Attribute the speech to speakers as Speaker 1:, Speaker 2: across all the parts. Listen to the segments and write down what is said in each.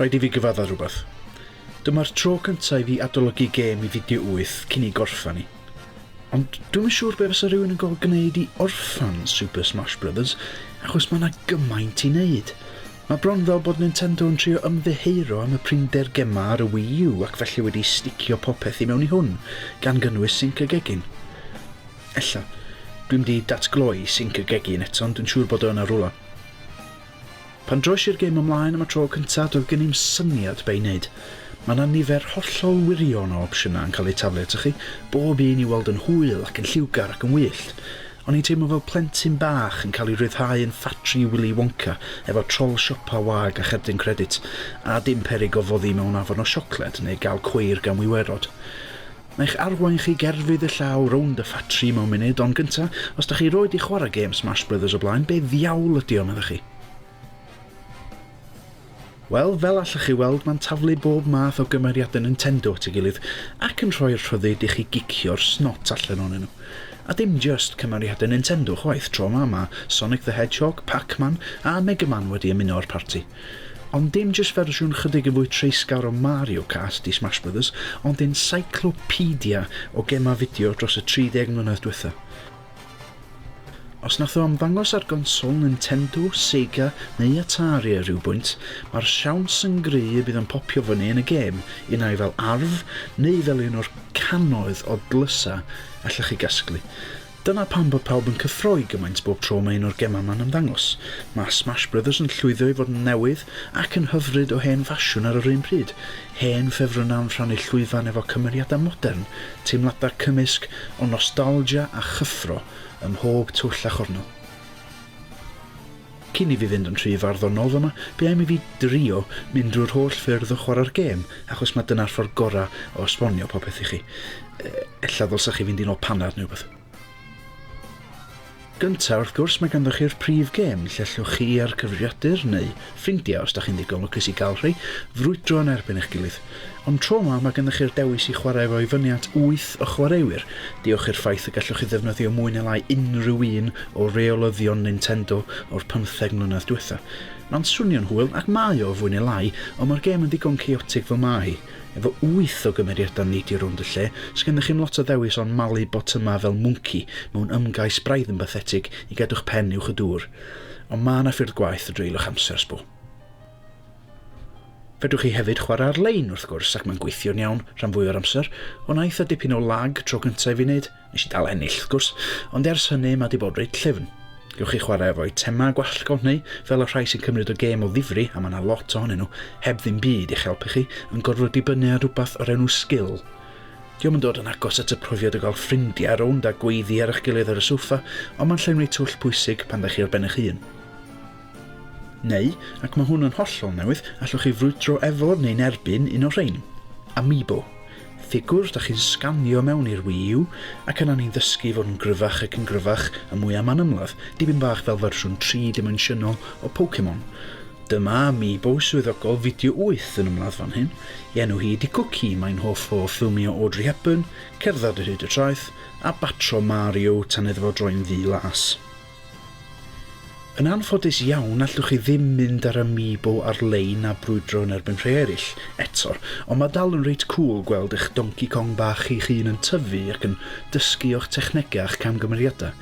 Speaker 1: Rhaid i fi gyfadda rhywbeth. Dyma'r tro cyntaf i fi adolygu gêm i fideo wyth cyn ei gorffan i. Ond dwi'm yn siŵr be' fysa rhywun yn gorfod gwneud i orffan Super Smash Brothers, achos mae yna gymaint i wneud. Mae bron fel bod Nintendo yn trio ymddiheuro am y prinder gemau ar y Wii U ac felly wedi sticio popeth i mewn i hwn, gan gynnwys Sync y Gegin. Ella, dwi'm 'di datgloi Sync y Gegin eto ond dwi'n siŵr bod o yna rwla. Pan droies i'r gêm ymlaen am y tro cyntaf, doedd gen i'm syniad be' i wneud. Mae 'na nifer hollol wirion o opsiynau yn cael eu taflu atoch chi, bob un i'w weld yn hwyl ac yn lliwgar ac yn wyllt. O'n i'n teimlo fel plentyn bach yn cael ei ryddhau yn ffatri Wili Wonca efo trol siopa wag a cherdyn credit, a dim peryg o foddi mewn afon o siocled neu gael cweir gan wiwerod. Na'i'ch arwain chi gerfydd y llaw rownd y ffatri mewn munud, ond gynta, os da chi 'roed 'di chwarae gêm Smash Brothers o blaen, be ddiawl ydi o, medda chi? Wel, fel allwch chi weld, mae'n taflu bob math o gymeriadau Nintendo at ei gilydd, ac yn rhoi'r rhyddid i chi gicio'r snot allan ohonyn nhw. A dim jyst cymeriadau Nintendo chwaith, tro 'ma mae Sonic the Hedgehog, Pac-Man a Mega Man wedi ymuno â'r parti. Ond dim jyst fersiwn chydig yn fwy treisgar o Mario Kart i Smash Brothers, ond encyclopedia o gemau fideo dros y 30 mlynedd diwetha'. Os nath o ymddangos ar gonsol Nintendo, Sega neu Atari ar ryw bwynt, mae'r siawns yn gry y bydd o'n popio fyny yn y gêm, unai fel arf neu fel un o'r cannoedd o dlysau allech chi gasglu. Dyna pam bod pawb yn cyffroi gymaint bob tro mae un o'r gemau yma'n ymddangos. Mae Smash Brothers yn llwyddo i fod yn newydd ac yn hyfryd o hen ffasiwn ar yr un pryd, hen ffefrynnau yn rhannu llwyfan efo cymeriadau modern, teimladau cymysg o nostalgia a chyffro ym mhob twll a chornel. Cyn i fi fynd yn rhy farddonol fama, be am i fi drio mynd drwy'r holl ffyrdd o chwarae'r gêm, achos mae dyna'r ffordd gorau o esbonio popeth i chi. Ella ddylsa chi fynd i nôl panad neu rhywbeth. Gynta, wrth gwrs, mae ganddo chi'r prif gêm, lle allwch chi a'r cyfrifiadur, neu ffrindiau os da chi'n ddigon lwcus i gael rhai, frwydro yn erbyn eich gilydd. Ond tro 'ma, mae gennych chi'r dewis i chwarae efo i fyny at wyth o chwaraewyr, diolch i'r ffaith y gallwch chi ddefnyddio mwy neu lai unrhyw un o reolyddion Nintendo o'r pymtheg mlynedd diwetha'. Mae'n swnio'n hwyl, ac mae o, fwy neu lai, ond mae'r gêm yn ddigon chaotic fel mae hi. Efo wyth o gymeriadau neidio rownd y lle, sgennych chi'm lot o ddewis ond malu botymau fel mwnci mewn ymgais braidd yn bathetig i gadw'ch pen uwch y dŵr. Ond mae 'na ffyrdd gwaeth o dreulio'ch amser, sbo. Fedrwch chi hefyd chwarae ar-lein wrth gwrs ac mae'n gweithio'n iawn rhan fwya o'r amser, ond aeth a dipyn o lag tro cynta i fi neud, nes i dal ennill wrth gwrs, ond ers hynny ma di bod reit llyfn. Gewch chi chwarae efo eitemau gwallt gownhau fel y rhai sy'n cymryd o gêm o ddifri a ma na lot ohonyn nhw heb ddim byd i'ch helpu chi yn gorfod dibynnu ar rwbath o'r enw sgil. Dio'm yn dod yn agos at y profiad o gael ffrindiau rownd a gweiddi ar eich gilydd ar y soffa, ond ma'n llenwi twll pwysig pan dach chi ar ben eich hun. Neu, ac mae hwn yn hollol newydd, allwch chi frwydro efo neu'n erbyn un o'r rhain. Amiibo. Ffigwr da chi'n sganio mewn i'r Wii U, ac yna ni'n ddysgu i fod yn gryfach ac yn gryfach a mwy am anymladd, dipyn bach fel fersiwn tri dimensiynol o Pokemon. Dyma Amiibo swyddogol fideo wyth yn ymladd fan hyn. I enw hi ydi Cwci, mae'n hoff o ffilmio Audrey Hepburn, cerdded ar hyd y traeth, a batro Mario tan iddo fo droi'n ddu las. Yn anffodus iawn, allwch chi ddim mynd ar Amiibo ar-lein a brwydro yn erbyn rhai eraill, eto, ond mae dal yn reit cŵl gweld eich Donkey Kong bach chi'ch hun yn tyfu ac yn dysgu o'ch technegau a'ch camgymeriadau.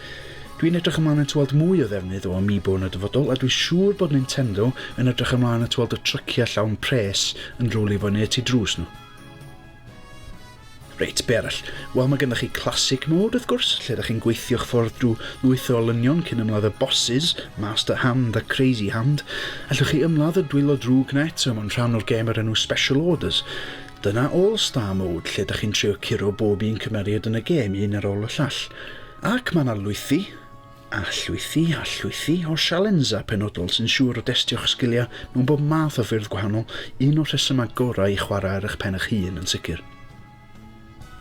Speaker 1: Dwi'n edrych ymlaen at weld mwy o ddefnydd o Amiibo yn y dyfodol a dwi'n siŵr bod Nintendo yn edrych ymlaen at weld y tryciau llawn pres yn rowlio fyny y tu drws nhw. Reit, be arall? Wel, mae gennych chi Classic Mode, wrth gwrs, lle ydych chi'n gweithio'ch ffordd drwy lwyth o olynion cyn ymladd y bosses, Master Hand a Crazy Hand. Allwch chi ymladd y dwylo drwg na eto mewn rhan o'r gêm o'r enw Special Orders. Dyna All Star Mode, lle ydych chi'n trio curo bob un cymeriad yn y gêm, un ar ôl y llall. Ac mae yna lwythi! a llwythi a llwythi o sialensau penodol sy'n siŵr o destio'ch sgiliau mewn bob math o ffyrdd gwahanol, un o'r rhesymau gorau i chwarae ar eich pen eich hun yn sicr.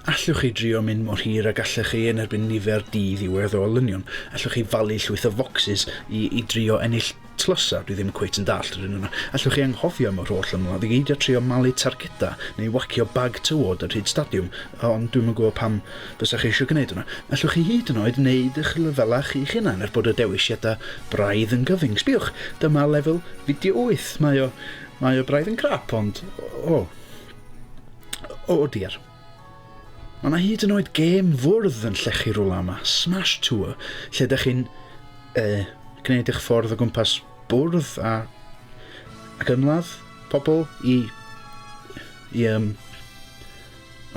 Speaker 1: Allwch chi drio mynd mor hir a gallech chi yn erbyn nifer di-ddiwedd o olynion, allwch chi falu llwyth o focsys i i drio ennill Tlws-a, dwi ddim cweit yn dallt yr un yna. Allwch chi anghofio am yr holl ymladd i gyd a trio malu targeda neu wagio bag tywod ar hyd stadiwm, ond dwi'm yn gwybod pam fysach chi eisiau gwneud hwnna. Allwch chi hyd yn oed wneud y'ch lefelau chi'ch hunan er bod y dewisiadau braidd yn gyfyng. Sbïwch, dyma lefel fideo wyth. Mae o, mae o braidd yn crap, ond, o, o diar. Mae 'na hyd yn oed gêm fwrdd yn llechi rwla yma, Smash Tour, lle ydych chi'n e, gwneud eich ffordd o gwmpas bwrdd a ac ymladd pobl i i um,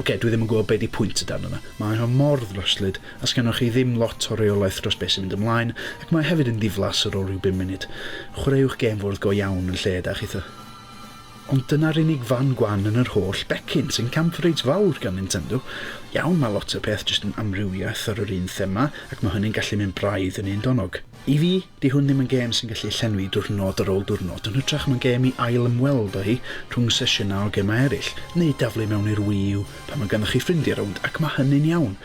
Speaker 1: Oce, okay, dwi ddim yn gwybod beth di pwynt y dan yna. Mae o mor ddryslyd, a sgennoch chi ddim lot o reolaeth dros beth sy'n mynd ymlaen, ac mae hefyd yn ddiflas ar ôl rhyw bum munud. Chwaraewch gêm fwrdd go iawn yn lle da chitha. Ond dyna'r unig fan gwan yn yr holl becyn, sy'n camp reit fawr gan Nintendo. Iawn, mae lot o'r peth jyst yn amrywiaeth ar yr un thema, ac mae hynny'n gallu mynd braidd yn un donog. I fi, 'di hwn ddim yn gêm sy'n gallu llenwi diwrnod ar ôl diwrnod, yn hytrach mae'n gêm i ail-ymweld â hi rhwng sesiynau o gemau eraill, neu daflu mewn i'r Wii U pan mae ganddoch chi ffrindiau rownd, ac mae hynny'n iawn.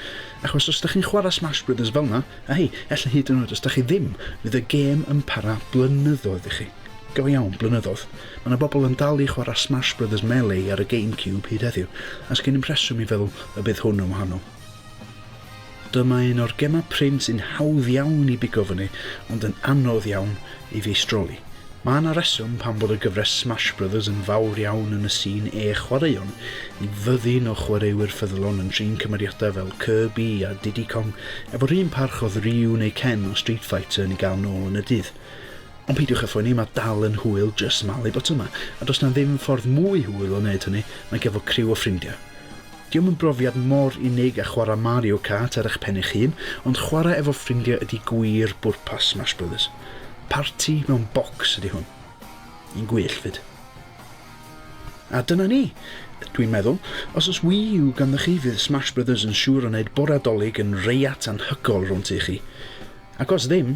Speaker 1: Achos os dach chi'n chwarae Smash Brothers fel 'na, a hei, ella hyd yn oed os dach chi ddim, fydd y gêm yn para blynyddoedd i chi. Go iawn, blynyddoedd. Mae 'na bobl yn dal i chwarae Smash Brothers Melee ar y GameCube hyd heddiw, a sgen i'm rheswm i feddwl y bydd hwn yn wahanol. Dyma un o'r gemau prin sy'n hawdd iawn i bigo fyny, ond yn anodd iawn i feistroli. Mae 'na reswm pam bod y gyfres Smash Brothers yn fawr iawn yn y sîn e chwaraeon, i fyddin o chwaraewyr ffyddlon yn trin cymeriadau fel Kirby a Diddy Kong efo'r un parch oedd Ryu neu Ken o Street Fighter yn ei gael nôl yn y dydd. Ond peidiwch â phoeni, mae dal yn hwyl, jyst malu botwm 'ma. A does 'na ddim ffordd mwy hwyl o wneud hynny nag efo criw o ffrindiau. Dio'm yn brofiad mor unig â chwarae Mario Kart ar eich pen eich hun, ond chwarae efo ffrindiau ydi gwir bwrpas Smash Brothers. Parti mewn bocs ydi hwn. Yn gwyllt 'fyd. A dyna ni! Dwi'n meddwl, os oes Wii U ganddoch chi fydd Smash Brothers yn siŵr o wneud bore'r Dolig yn reiat anhygoel rownd tŷ chi. Ac os ddim,